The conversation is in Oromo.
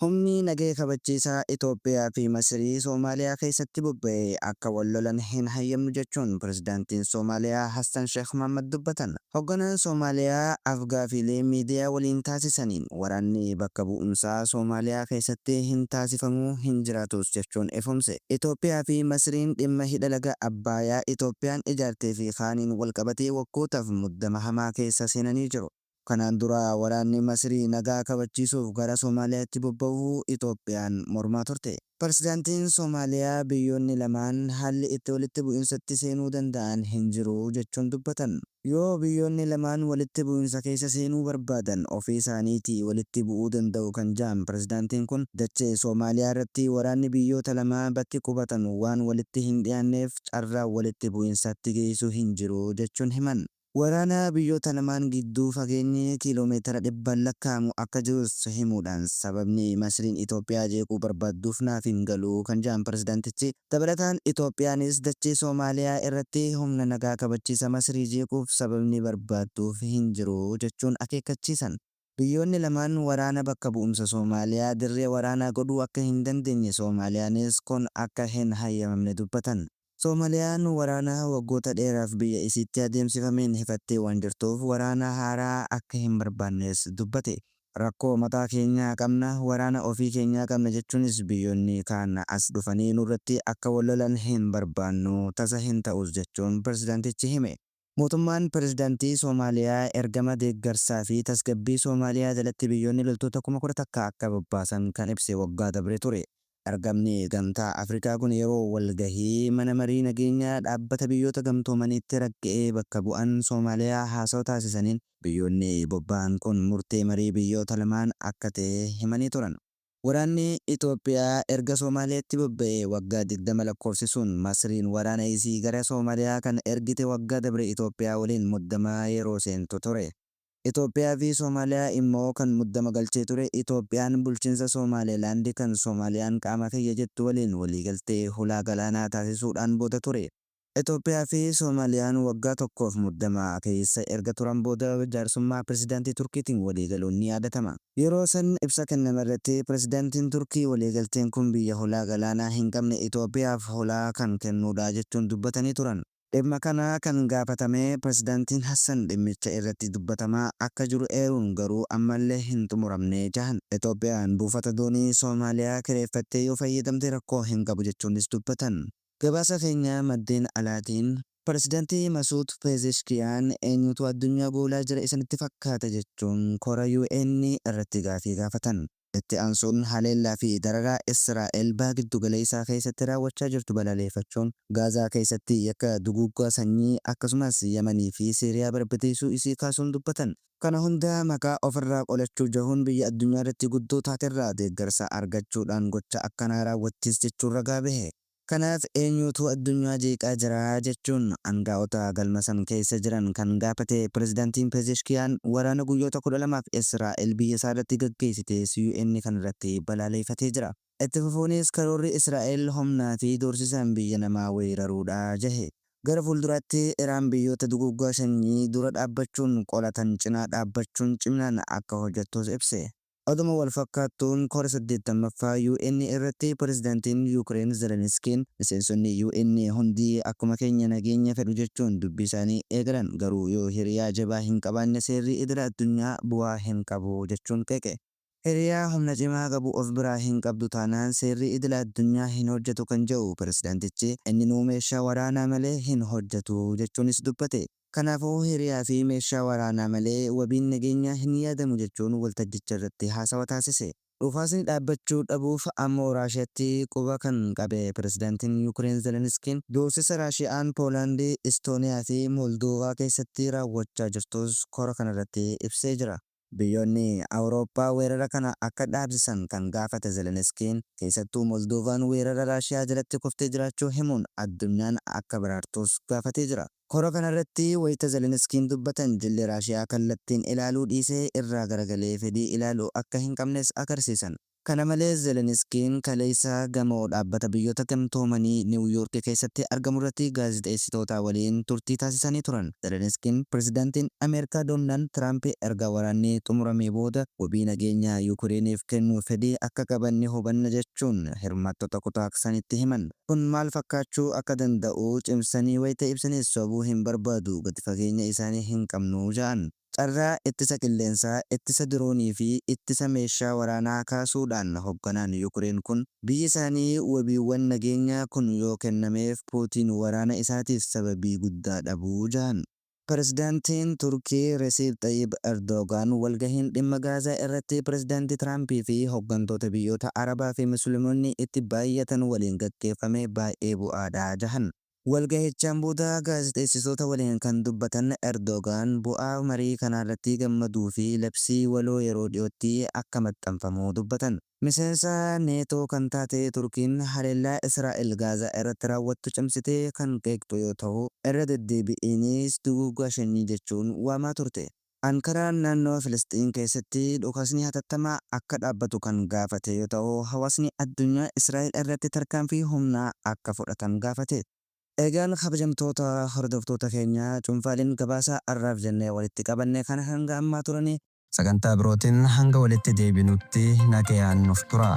Humni nagaya kabachiisaa Itoophiyaa fi Masirii Soomaaliyaa keessatti bobba'e akka wal lolan hin hayyamnu jechuun Pirezidaantiin Soomaaliyaa Hassan Sheekh Mahaammad dubbatan. Hogganaan Soomaaliyaa af-gaafiilee miidiyaa waliin taasisaniin waraanni bakka bu'umsaa Soomaaliyaa keessatti hin taasifamu, hin jiraatus jechuun ifoomse. Itoophiyaa fi Masiriin dhimma hidha laga Abbaayaa Itoophiyaan ijaartee fi kaaniin wal qabatee waggootaaf muddama hamaa keessa seenanii jiru. Kanaan dura waraanni Masrii nagaa kabachiisuuf gara Somaaliyaatti bobba'uu Itoophiyaan mormaa turte. Pirezidantiin Somaaliyaa biyyoonni lamaan haalli itti walitti bu'insatti seenuu danda'an hin jiru jechuun dubbatan. Yoo biyyoonni lamaan walitti bu'insa keessa seenuu barbaadan ofii isaaniitii walitti bu'uu danda'u kan ja'an pirezidantiin kun, dachee Somaaliyaa irratti waraanni biyyoota lamaa bakki qubatan waan walitti hin dhiyaanneef carraan walitti bu'insatti geessu hin jiru jechuun himan. Waraana biyyoota lamaan gidduu fageenyi kiiloomeetira dhibbaan lakkaa'amu akka jirus himuudhaan, sababni Masriin Itoophiyaa jeequu barbaadduuf naaf hin galu kan jedhan pirezidantichi, dabalataan Itoophiyaanis dachee Somaaliyaa irratti humna nagaa kabachiisa Masrii jeequuf sababni barbaadduuf hin jiru jechuun akeekkachiisan. Biyyoonni lamaan waraana bakka bu'umsa Somaaliyaa dirree waraanaa godhuu akka hin dandeenye Somaaliyaanis kun akka hin hayyamamne dubbatan. Somaliyaan waraana waggoota dheeraaf biyya isiitti adeemsifameen hifattee waan jirtuuf waraana haaraa akka hin barbaannes dubbate. Rakkoo mataa keenyaa qabna, waraana ofii keenyaa qabna jechuunis biyyoonni kaan as dhufanii nurratti akka wal lolan hin barbaannu, tasa hin ta'us jechuun pirezidaantichi hime. Mootummaan Pirezidantii Soomaaliyaa ergama deeggarsaa fi tasgabbii Soomaaliyaa jalatti biyyoonni loltoota kuma kudha takka akka bobbaasan kan ibse waggaa dabre ture. Ergamni Gamtaa Afrikaa kun yeroo walgahii Mana Marii Nageenyaa Dhaabbata Biyyoota Gamtoomaniitti ragga'ee bakka bu'an Soomaaliyaa haasawa taasisaniin biyyoonni bobba'an kun murtee marii biyyoota lamaan akka ta'e himanii turan. Waraanni Itoophiyaa erga Somaaleetti bobba'ee waggaa 20 lakkoofsisuun Masriin waraana isii gara Somaaliyaa kan ergite waggaa dabre Itoophiyaa waliin muddama yeroo seentu ture. Itoophiyaa fi Somaaliyaa immoo kan muddama galchee ture Itoophiyaan bulchiinsa Somaaleelaand kan Somaaliyaan qaama kiyya jettu waliin waliigaltee hulaa galaanaa taasisuudhaan booda ture. Itoophiyaa fi Soomaaliyaan waggaa tokkoof muddama keessa erga turan booda jaarsummaa Pirezidaantii Turkiitiin waliigaluun ni yaadatama. Yeroo san ibsa kennamerratti Pirezidaantiin Turkii waliigalteen kun biyya hulaa galaanaa hin qabne Itoophiyaaf hulaa kan kennuudha jechuun dubbatanii turan. Dhimma kana kan gaafatame Pirezidaantiin Hassan dhimmicha irratti dubbatamaa akka jiru eeruun garuu ammallee hin xumuramne jahan. Itoophiyaan buufata doonii Soomaaliyaa kireeffattee yoo fayyadamte rakkoo hin qabu jechuunis dubbatan. Gabaasa keenya maddeen alaatiin, Pirezidanti Masuud Peezeshkiyaan eenyutu addunyaa goolaa jira isinitti fakkaata jechuun kora UN irratti gaafii gaafatan. Itti aansuun haleellaa fi dararaa Israa'el Baha Giddugaleessaa keessatti raawwachaa jirtu balaleeffachuun, Gaazaa keessatti yakka duguuggaa sanyii, akkasumas Yamanii fi Siiriyaa barbadeessuu isii kaasuun dubbatan. Kana hunda maqaa ofirraa qolachuu jahuun biyya addunyaarratti guddoo taaterraa deeggarsa argachuudhaan gocha akkanaa raawwattis jechuun ragaa bahe. Kanaaf eenyuutu addunyaa jeeqaa jira jechuun angaa'ota galma san keessa jiran kan gaafate Pirezidantiin Pezeshkiyaan waraana guyyoota 12f Israa'el biyyasaarratti gaggeessite SUN kanarratti balaaleefatee jira. Itti fufuunis karoorri Israa'el humnaa fi doorsisaan biyya namaa weeraruu dha jahe. Gara fuulduraatti Iraan biyyoota duguuggaa sanyii dura dhaabbachuun qolatan cinaa dhaabbachuun ciminaan akka hojjettus ibse. Oduma wal fakkaattuun kora 80ffaa UN irratti Pirezidantiin Yukireen Zeleniskiin miseensonni UN hundi akkuma keenya nageenya fedhu jechuun dubbii isaanii eegalan garuu yoo hiriyaa jabaa hin qabaanne seerri idila addunyaa bu'aa hin qabu jechuun qeeqe. Hiriyaa humna cimaa qabu of biraa hin qabdu taanaan seerri idila addunyaa hin hojjetu kan jedhu pirezidantichi, inninuu meeshaa waraanaa malee hin hojjetu jechuunis dubbate. Kanaafuu hiriyaa fi meeshaa waraanaa malee wabiin nageenyaa hin yaadamu jechuun waltajjicha irratti haasawa taasise. Dhukaasni dhaabbachuu dhabuuf ammoo Raashiyatti quba kan qabe pirezidantiin Yukireen Zeleniskiin, doorsisa Raashiyaan Poolaandi, Istooniyaa fi Moldoovaa keessatti raawwachaa jirtus kora kanarratti ibsee jira. Biyyoonni Awurooppaa weerara kana akka dhaabsisan kan gaafate Zeleniskiin, keessattuu Moldoovaan weerara Raashiyaa jalatti kuftee jiraachuu himuun addunyaan akka baraartuus gaafatee jira. Kora kanarratti wayita Zeleniskiin dubbatan jilli Raashiyaa kallattiin ilaaluu dhiisee irraa garagalee fedhii ilaalu akka hin qabnes agarsiisan. Kana malees Zeleniskiin kaleessa gamoo Dhaabbata Biyyoota Gamtoomanii Niiw Yoorki keessatti argamurratti gaazexeessitootaa waliin turtii taasisanii turan. Zeleniskiin Pirezidantiin Ameerikaa Doonald Tiraamp erga waraanni xumuramee booda wabii nageenyaa Yuukireeniif kennuuf fedhii akka qaban ni hubanna jechuun hirmaattota kutaa sanitti himan. Kun maal fakkaachuu akka danda'u cimsanii wayita ibsanis sobuu hin barbaadu, gadi fageenya isaanii hin qabnu ja'an. Carraa ittisa qilleensaa, ittisa diroonii fi ittisa meeshaa waraanaa kaasuu dhaan hogganaan Yukireen kun, biyyi isaanii wabiiwwan nageenyaa kun yoo kennameef Puutiin waraana isaatiif sababii guddaa dhabu jahan. Pirezidaantiin Turkii Resiip Xayyib Erdoogaan walgahiin dhimma Gaazaa irratti Pirezidaantii Tiraampii fi hoggantoota biyyoota Arabaa fi Musliimonni itti baayyatan waliin gaggeeffame baay'ee bu'aa dha jahan. Walgahichaan booda gaazexeessitoota waliin kan dubbatan Erdoogaan, bu'aa marii kanaarratti gammaduu fi labsii waloo yeroo dhiyootti akka maxxanfamu dubbatan. Miseensa Neetoo kan taate Turkiin haleellaa Israa'el Gaazaa irratti raawwattu cimsitee kan qeeqxu yoo tahu, irra deddeebi'iinis duguuggaa shanyii jechuun waamaa turte. Ankaraan naannoo Filisxiin keessatti dhukaasni hatattamaa akka dhaabbatu kan gaafate yoo ta'u, hawaasni addunyaa Israa'el irratti tarkaanfii humnaa akka fudhatan gaafate. Egaan kabajamtoota hordoftoota keenya, cuunfaaleen gabaasa har'aaf jennee walitti qabanne kana hanga ammaa turani. Sagantaa birootiin hanga walitti deebinutti nagayaan nuuf turaa.